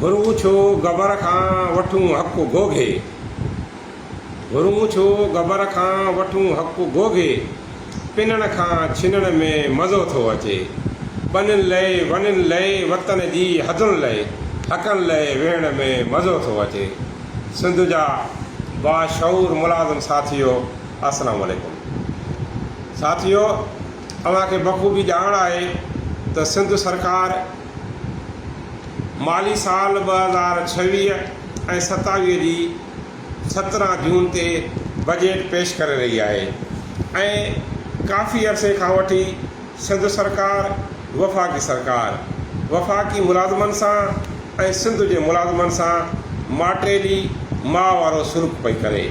گهرون ڇو گبر کان وٺون حق گهوگهي گهرون ڇو گبر کان وٺون حق گهوگهي پنڻ کان ڇنڻ ۾ مزو ٿو اچي ٻنين لئه وڻين لئه وطن جي حدن لئه حقن لئه ويهڻ ۾ مزو ٿو اچي سنڌ جا باشعور ملازم ساٿيو السلام عليڪم ساٿيو اوهان کي بخوبي ڄاڻ آهي ته سنڌ سرڪار مالي سال ٻه هزار ڇويهه ۽ ستاويهه جي سترهن جون تي بجيٽ پيش ڪري رهي آهي ۽ ڪافي عرصي کان وٺي سنڌ سرڪار وفاقي سرڪار وفاقي ملازمن سان ۽ سنڌ جي ملازمن سان ماٽيلي ماء وارو سلوڪ پئي ڪري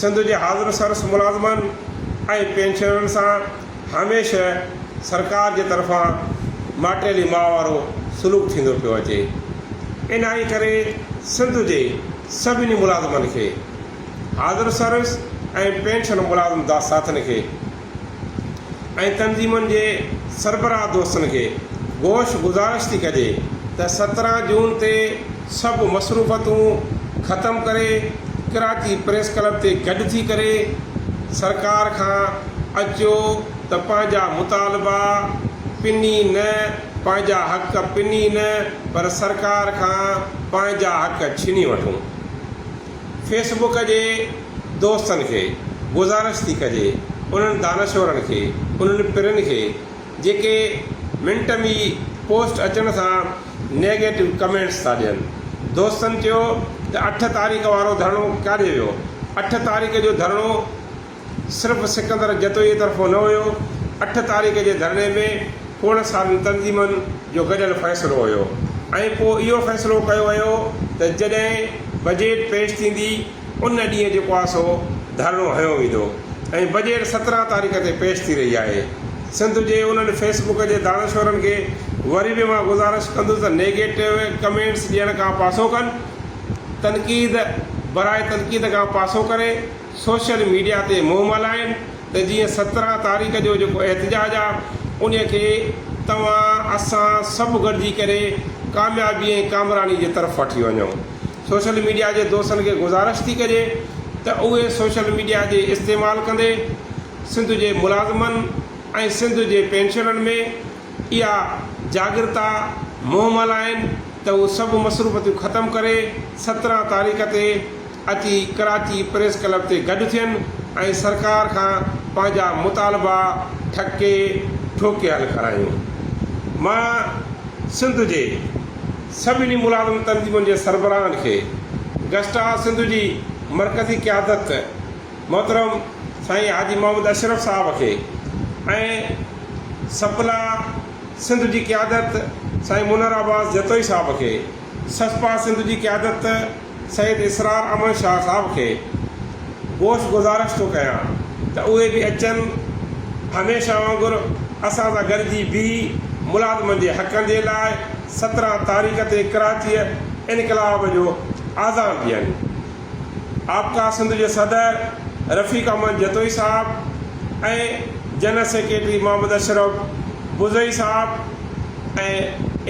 سنڌ جي حاضر سرس ملازمن ۽ پينشنرن سان هميشه سرڪار جي طرفان ماٽيلي ماء وارو سلوڪ ٿيندو پيو اچي انهيء ڪري سنڌ جي سڀني ملازمن کي حاضر سرس ۽ پينشن ملازم داستاٿن کي ۽ تنظيمن جي سربراهه دوستن کي گوش گذارش ٿي ڪجي ته سترهن جون تي سڀ مصروفتون ختم ڪري ڪراچي پريس ڪلب تي گڏ ٿي ڪري سرڪار کان اچو ته پنهنجا مطالبا پني نه پنهنجا حق پني نه پر سرڪار کان پنهنجا حق ڇني وٺون. فيس بڪ جي دوستن کي گذارش ٿي ڪجي انهن دانشورن کي انهن پرين کي جيڪي منٽ م ئي پوسٽ اچڻ سان نيگيٽو ڪمينٽس ٿا ڏين دوستن چيو ته اٺ تاريخ وارو ڌرڻو ڪاڏي ويو اٺ تاريخ جو ڌرڻو صرف سڪندر جتوئيء طرفون نه هيو، اٺ تاريخ جي ڌرڻي ۾ کوڙ سارين تنظيمن جو گڏيل فيصلو هيو ۽ پوء اهو فيصلو ڪيو ويو ته جڏهن بجيٽ پيش ٿيندي ان ڏينهن جيڪو آهي سو ڌرڻو هنيو ويندو ۽ بجيٽ سترهن تاريخ تي پيش ٿي رهي آهي. سنڌ جي انهن فيس بڪ جي دانشورن کي وري به مان گذارش ڪندس ته نيگيٽو ڪمينٽس ڏيڻ کان پاسو ڪن، تنقيد برائي تنقيد کان پاسو ڪري، سوشل ميڊيا تي منهن مالائين ته جيئن سترهن تاريخ جو جيڪو احتجاج آ ان کي توهان اسان سڀ گڏجي ڪري ڪاميابي ۽ ڪامراني جي طرف وٺي وڃو سوشل ميڊيا جي دوستن کي گذارش ٿي ڪجي ته اهي سوشل ميڊيا جي استعمال ڪندي سنڌ جي ملازمن ۽ سنڌ جي پينشنرن ۾ اها جاڳرتا منهن مالائين ته هو سڀ مصروفتيون ختم ڪري سترهن تاريخ تي اچي ڪراچي پريس ڪلب تي گڏ ٿين ۽ سرڪار کان پنهنجا مطالبا ٺڪي ٺوڪي حل ڪرايون. مان سنڌ جي سڀني ملازم تنظيمن جي سربراهن کي گسٽا سنڌ جي مرڪزي قيادت محترم سائين حاجي محمد اشرف صاحب کي ۽ سپلا سنڌ جي قيادت سائين منر عباس جتوئي صاحب کي سسپا سنڌ جي قيادت سيد اسرار احمد شاهه صاحب کي گوش گذارش ٿو ڪيان ته اهي به اچن هميشه وانگر اسان سان گڏجي بيهي ملازمن جي حقن جي لاء سترهن تاريخ تي ڪراچيء انقلاب جو آذان ڏين. آپڪا سنڌ جي صدر رفيق احمد جتوئي صاحب ۽ جنرل سيڪريٽري محمد اشرف بزئي صاحب ۽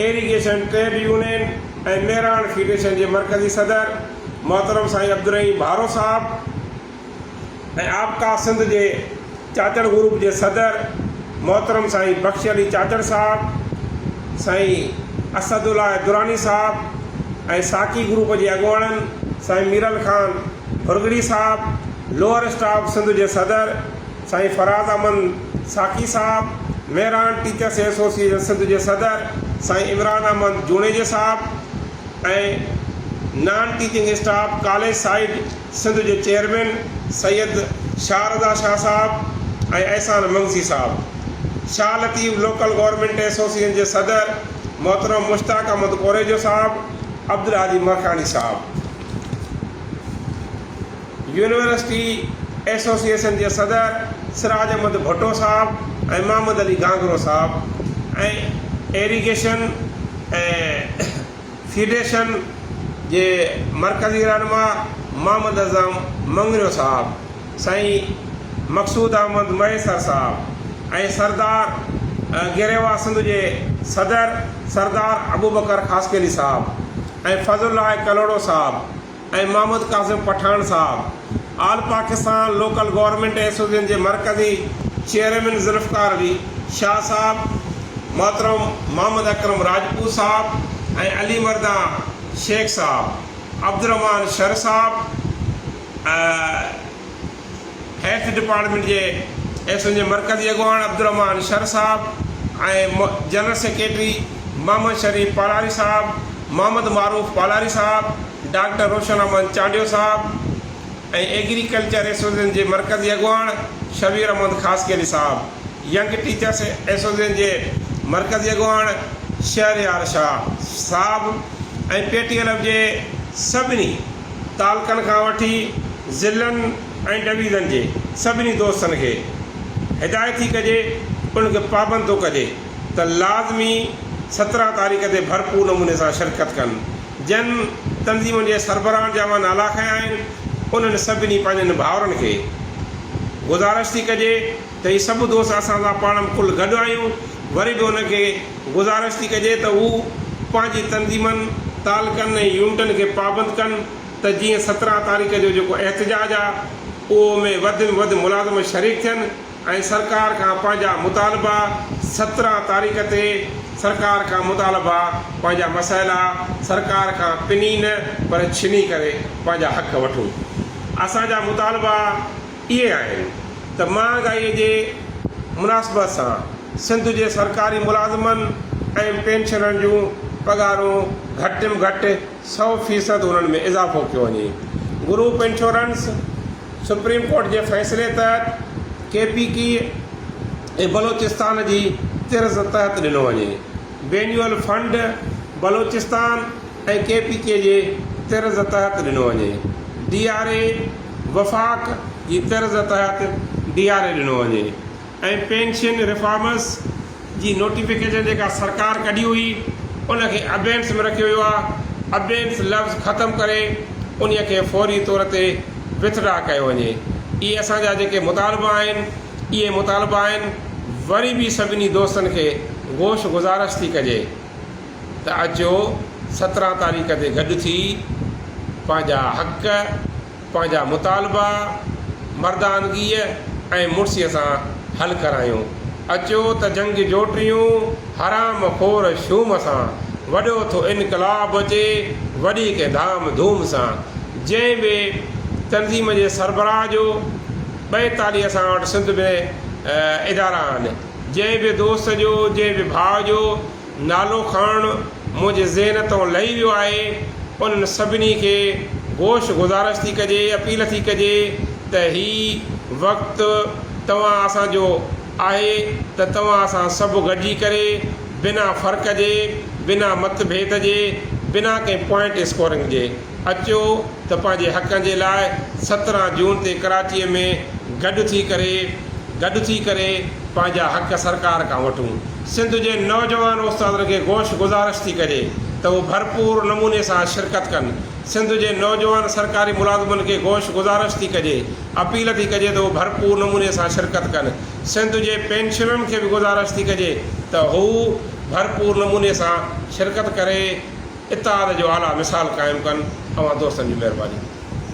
irrigation trade union, ۽ Mehran federation جي مرڪزي صدر محترم سائين عبدالرحيم ڀارو صاحب ۽ آبقا سنڌ جي چاچڙ گروپ جي صدر محترم سائين بخش علي چاچڙ صاحب، سائين اسد الله دراني صاحب ۽ ساقي گروپ جي اڳواڻن سائين ميرل خان هرڳڙي صاحب، لوئر اسٽاف سنڌ جي صدر. سائين فراز احمد ساقي صاحب، مهراڻ ٽيچرس ايسوسيئيشن سنڌ جي صدر سائين عمران احمد جوڻيجي صاحب ۽ non teaching staff college side Sindh جي چيئرمين سيد شاهه رضا شاهه صاحب ۽ احسان منگسي صاحب، Shah Latif local government association جي صدر محترم مشتاق احمد ڪوريجو صاحب، عبدالهادي ماکياڻي صاحب. يونيورسٽي ايسوسيئيشن جي صدر سراج احمد ڀٽو صاحب ۽ محمد علي گانگرو صاحب ۽ ايريگيشن ۽ فيڊيشن جي مرڪزي رهنما محمد اعظم مڱريو صاحب، سائين مقصود احمد مهيسر صاحب ۽ سردار گريوا سنڌ جي صدر سردار ابوبڪر خاصخيلي صاحب ۽ فضل الله ڪلهوڙو صاحب ۽ محمد قاسم پٺاڻ صاحب، all Pakistan local government association جي مرڪزي چيئرمين ذوالفقار علي شاهه صاحب، محترم محمد اڪرم راجپوت صاحب ۽ علي مردان شيخ صاحب، عبدالرحمان شر صاحب ۽. هيلٿ ڊپارٽمينٽ جي ايس اين جي مرڪزي اڳواڻ عبدالرحمان شر صاحب ۽ جنرل سيڪريٽري محمد شريف پالاري صاحب، محمد معروف پالاري صاحب، ڊاڪٽر روشن احمد چانڊيو صاحب ۽ ايگريڪلچر ايسوسيئيشن جي مرڪزي اڳواڻ شبير احمد خاصخيلي صاحب، ينگ ٽيچرس ايسوسيئيشن جي مرڪزي اڳواڻ شهريار شاهه صاحب ۽ پي ٽي ايل ايف جي سڀني تعلقن کان وٺي ضلعن ۽ ڊويزن جي سڀني دوستن کي هدايت ٿي ڪجي ان کي پابند ٿو ڪجي ته لازمي سترهن تاريخ تي ڀرپور نموني سان شرڪت ڪن جن تنظيمن جي سربراهن جا مان نالا کنيا آهن انهن سڀني پنهنجن ڀائرن کي گذارش ٿي ڪجي ته هي سڀ دوست اسان سان پاڻ ۾ ڪل گڏ آهيون، وري به ان کي گذارش ٿي ڪجي ته هو پنهنجي تنظيمن، تعلقن ۽ يونٽن کي پابند ڪن ته جيئن سترهن تاريخ جو جيڪو احتجاج آ اهو ۾ وڌ ۾ وڌ ملازم شريڪ ٿين ۽ سرڪار کان پنهنجا مطالبا سترهن تاريخ تي سرڪار کان مطالبا پنهنجا مسئلا سرڪار کان پني نه پر ڇني ڪري پنهنجا حق وٺون اسان جا مطالبا اهي آهن ته مهانگائيء جي مناسبت سان سنڌ جي سرڪاري ملازمن ۽ پينشنرن جون پگهارون گهٽ م گهٽ سؤ فيصد انهن ۾ اضافو ڪيو وڃي. گروپ انشورنس، سپريم ڪورٽ جي فيصلي تحت ڪي پي ڪي ۽ بلوچستان جي طرز تحت ڏنو وڃي. Benevolent fund, Balochistan, ۽ K P K جي طرز تحت ڏنو وڃي، ڊي آر اي وفاق جي طرز تحت ڊي آر اي ڏنو وڃي ۽ پينشن ريفارمز جي نوٽيفڪيشن جيڪا سرڪار ڪڍي هئي ان کي ابينڊس ۾ رکيو ويو آهي، ابينڊس لفظ ختم ڪري انهي کي فوري طور تي وٿ ڊرا ڪيو وڃي، اهي اسان جا جيڪي مطالبا آهن اهي مطالبا آهن، وري به سڀني دوستن کي گوش گذارش ٿي ڪجي. ته اچو سترهن تاريخ تي گڏ ٿي پنهنجا حق، پنهنجا مطالبا مردانگيء ۽ مڙسيء سان حل ڪرايون. اچو ته جنگجو ٽيون حرام خور شوم سان وڏو ٿو انقلاب اچي وڏي ڪنهن ڌام ڌوم سان. جنهن به تنظيم جي سربراهه جو ٻئتاليهه اسان وٽ سنڌ ۾ ادارا آهن. جنهن به دوست جو، جنهن به ڀاء جو نالو کڻڻ منهنجي ذهن تان لهي ويو آهي، انهن سڀني کي گوش گذارش ٿي ڪجي، اپيل ٿي ڪجي ته هي وقت توهان اسان جو آهي ته توهان اسان سڀ گڏجي ڪري بنا فرق جي، بنا مت ڀيد جي، بنا ڪنهن پوائنٽ اسڪورنگ جي. اچو ته پنهنجي حقن جي لاء سترهن جون تي ڪراچيء ۾ گڏ ٿي ڪري گڏ ٿي ڪري پنهنجا حق سرڪار کان وٺون. سنڌ جي نوجوان استادن کي گوش گذارش ٿي ڪجي ته هو ڀرپور نموني سان شرڪت ڪن. سنڌ جي نوجوان سرڪاري ملازمن کي گوش گذارش ٿي ڪجي، اپيل ٿي ڪجي ته هو ڀرپور نموني سان شرڪت ڪن. سنڌ جي پينشنرن کي به گذارش ٿي ڪجي ته هو ڀرپور نموني سان شرڪت ڪري. اتحاد جو اعليٰ مثال قائم ڪن اوهان دوستن جي مهرباني.